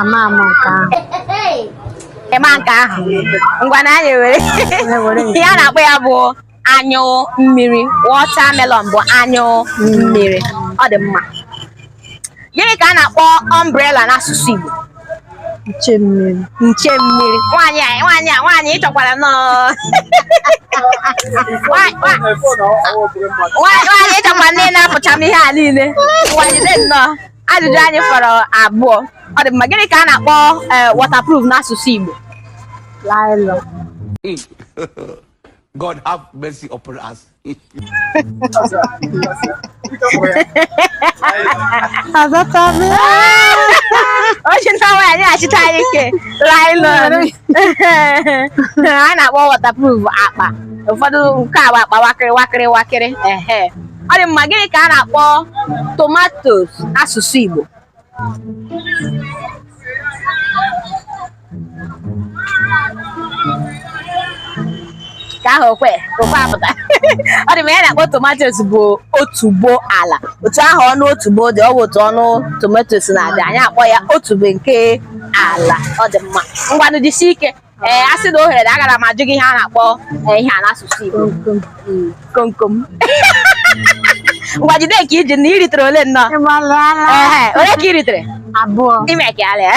ama ama nke ahụ ị ma nke ahụ ngwanụ anyị were ihe a na-akpọ ya bụ anyụ mmiri watermelon bụ anyụ mmiri ọ dị mma gịnị ka a na-akpọ umbrella n'asụsụ Igbo nche mmiri nche mmiri nwaanyị a nwaanyị a nwaanyị ị chọkwara nnọọ Nwa- nwa- nwaanyị ị chọkwara nnọọ ịnapụcha m ihe a niile nwaanyị dị nnọọ ajụjụ anyị fọrọ abụọ ọ dị mma gịnị ka a na-akpọ eh, waterproof n'asụsụ Igbo nylon God have mercy upon us. ochi nta nwaanyị a na-achịta anyị ike nylon a na-akpọ waterproof akpa ụfọdụ nke a bụ akpa wakịrị wakịrị wakịrị ehe ọ dị mma gịnị ka a na-akpọ tomatos n'asụsụ Igbo ka ahụ okwe okwe apụta ọ dị mma ihe a na-akpọ tomatos bụ otubo ala otu ahụ ọnụ otubo dị ọ bụ otu ọnụ tomatos na-adị anyị akpọọ ya otubo nke ala ọ dị mma ngwanụ jisie ike ee a sị na ohere dị agara m ajụ gị ihe a na-akpọ ee, ihe a n'asụsụ Igbo Mm, komkom ngwa jide nke ị ji nne ị ritere ole nnọọ Ehe, ole ka ị ritere abụọ ime ka ya lee